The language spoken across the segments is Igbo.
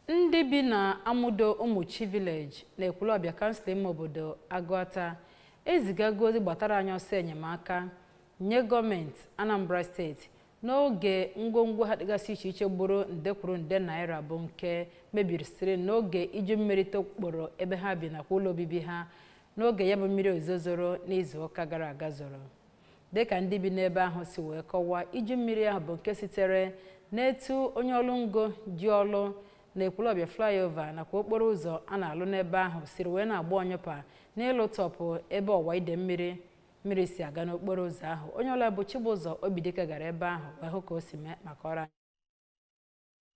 ndị bi na Amudo Ụmụchi Village na Ekwulọbịa kansụl ime obodo Agụata ezigago ozi gbatara anyị ọsọ enyemaka nye gọọmenti Anambra steeti n'oge ngwongwo ha dịgasị iche iche gburu nde kwuru nde naira bụ nke mebirisiri n'oge iju mmiri tokporo ebe ha bi nakwa ụlọ obibi ha n'oge ya bụ mmiri ozuzo zoro n'izu ụka gara aga zoro dịka ndị bi n'ebe ahụ si wee kọwaa iju mmiri ahụ bụ nke sitere n'etu onye ọlụ ngo ji ọlụ na ekwulọbịa flyover nakwa okporo ụzọ a na-alụ n'ebe ahụ siri wee na-agba ọnyụpa n'ịlụtọpụ ebe ọwa ide mmiri mmiri si aga n'okporo ụzọ ahụ onye ọlụ anyị bụ Chibụzọ Obidike gara ebe ahụ wee hụ ka o si mee ma kọọrọ anyị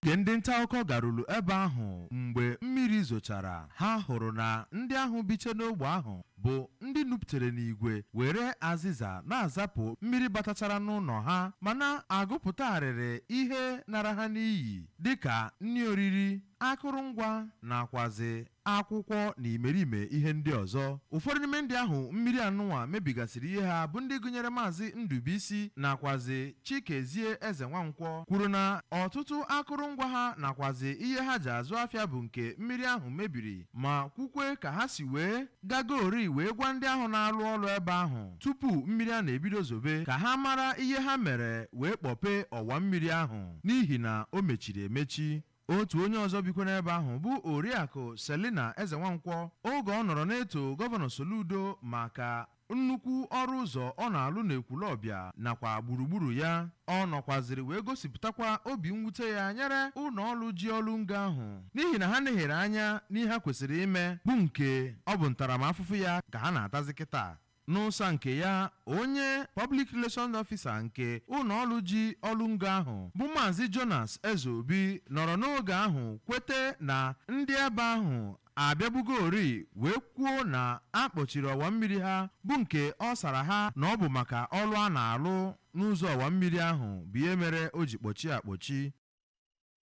Oge ndị ntaakụkọ garuru ebe ahụ mgbe mmiri zochara, ha hụrụ na ndị ahụ biche n'ogbe ahụ bụ ndị nupụtere n'igwe were azịza na-azapụ mmiri batachara n'ụnọ ha ma na-agụpụta arịrị ihe nara ha n'iyi dịka nri oriri, akụrụngwa nakwazị akwụkwọ na imerime ihe ndị ọzọ. Ụfọdụ n'ime ndị ahụ mmiri anụnwa mebigasịrị ihe ha bụ ndị gụnyere Maazị Ndụbuisi nakwazị Chikezie Ezenwankwọ kwuru na ọtụtụ akụrụngwa ha nakwazị ihe ha ji azụ afịa bụ nke mmiri ahụ mebiri ma kwukwe ka ha si wee gagoori wee gwa ndị ahụ na-alụ ọlụ ebe ahụ tupu mmiri a na-ebido zobe ka ha mara ihe ha mere wee kpọpee ọwa mmiri ahụ n'ihi na o mechiri emechi. Otu onye ọzọ bikwa n'ebe ahụ bụ Oriakụ Selina Ezenwankwọ oge ọ nọrọ na-eto Gọvanọ Soludo maka nnukwu ọrụ ụzọ ọ na-alụ n'Ekwulọbịa nakwa gburugburu ya. Ọ nọkwazịrị wee gosipụtakwa obi mwute ya nyere ụnọọlụ ji ọlụ ngo ahụ n'ihi na ha nehere anya n'ihe ha kwesịrị ime bụ nke ọ bụ ntaramafụfụ ya ka ha na-atazị kịta. N'ụsa nke ya, onye Public Relations Officer nke ụnọọlụ ji ọlụ ngo ahụ bụ Maazị Jonas Ezeobi nọrọ n'oge ahụ kwete na ndị ebe ahụ abịabugorii wee kwuo na a kpọchiri ọwa mmiri ha bụ nke ọ sara ha na ọ bụ maka ọlụ a na-alụ n'ụzọ ọwa mmiri ahụ bụ ihe mere o ji kpọchie akpọchi.